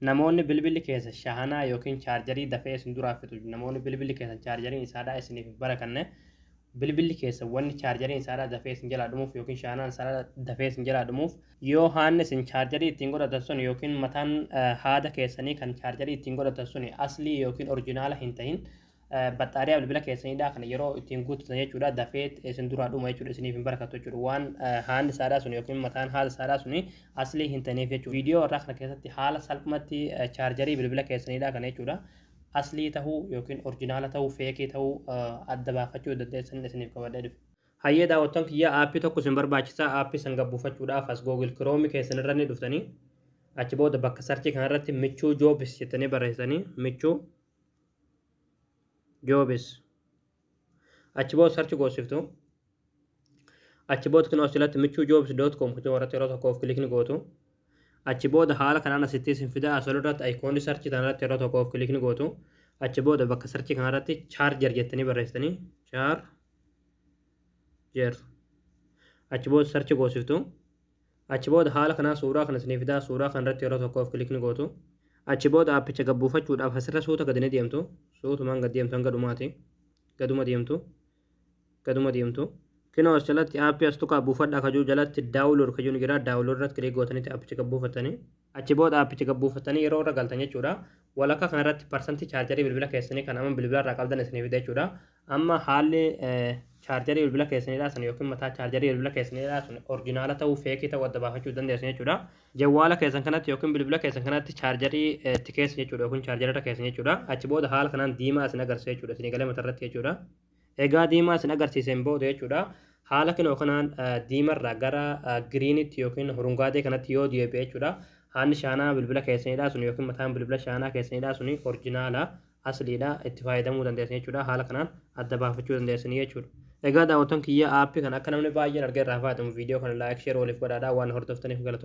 Namoonni bilbilli keessan shahanaa yookiin chaarjarii dafee isin duraa fixu namoonni bilbilli keessan chaarjariin isaadhaa isiniif hin barakanne bilbilli keessan wanni chaarjariin isaadhaa dafee isin jalaa dhumuuf yookiin shahanaan isaadhaa dafee isin jalaa dhumuuf yoo haanni isin chaarjarii ittiin godhatan sun yookiin mataan haada keessanii kan chaarjarii ittiin godhatan sun aslii yookiin orjinaala hin tahin Baxxaariyaa bilbila keessaniidha kana yeroo ittiin guuttatan jechuudha dafee isin duraa dhuma jechuudha isiniif hin barakatu jechuudha waan haalli isaadhaa sun yookiin mataan haala isaadhaa sun aslii hin taneef jechuudha viidiyoo irraa kana keessatti haala salphumatti chaarjarii bilbila keessaniidha kana jechuudha aslii ta'uu yookiin orjinaala ta'uu feekii ta'uu adda baafachuu dandeessan isiniif qabadhee dhufe. Hayyee daawwattan kiyya aappii tokko isin barbaachisa aappii san gabbuufachuudhaaf as Google Chrome keessan irra ni dhuftanii achi booda bakka sarchii kanarratti michuu joobis jettanii barreessanii michuu jobs achi booda sarchi goosiftu achi booda kan asirratti michuu jobs dot com kutuu irratti yeroo tokkoof kilikni gootu achi booda haala kanaan asitti isin fida asol irratti ayikoonni sarchi kanarratti yeroo tokkoof kilikni gootu achi booda bakka sarchi kanarratti chaarjer jettanii barreessitanii chaarjer achi booda sarchi goosiftu Achi booda haala kanaan suuraa kana isinii fidaa suuraa kana irratti yeroo tokkoof click ni gootu. Achi booda aappicha gad buufachuudhaaf asirra suuta gadi ni deemtu. Suutumaan gad deemtu hanga dhumaati. Gaduma deemtu. Gaduma deemtu. Kinoo as jalatti aappii as tuqaa buufadhaa kajuu jalatti download kajuu ni jira. Download irratti click gootanitti aappicha gad buufattanii. Achi booda aappicha gad buufattanii yeroo irra galtan jechuudha. Walakkaa kana irratti parsantii chaarjarii bilbila keessanii kan amma bilbila irraa qabdan isinii fida jechuudha. Amma haalli chaarjarii bilbila keessanii dhaasan yookiin mataa chaarjarii bilbila keessanii dhaasan orjinaala ta'uu feekii ta'uu adda baafachuu dandeessan jechuudha. Jawwaala keessan kanatti yookiin bilbila keessan kanatti chaarjarii itti keessan jechuudha yookiin chaarjarii irra keessan jechuudha. Achi booda haala kanaan diimaa isin agarsiisa jechuudha. Isinii galee mata irratti jechuudha. Egaa diimaa isin agarsiiseen booda jechuudha. Haala kinoo kanaan diimarraa gara giriinitti yookiin hurungaadee kanatti yoo deebi'e jechuudha. Haanni shaanaa bilbila keessanidha sun yookiin mataan bilbila shaanaa keessanidha sun orjinaala asliidha itti fayyadamuu dandeessan jechuudha. Haala kanaan adda baafachuu dandeessanii jechuudha. Egaa daawwattoon kiyya aappii kana akka namni baay'een argee irraa fayyadamu viidiyoo kana laayik sheer waliif godhaadha waan hordoftaniif galatoomaa.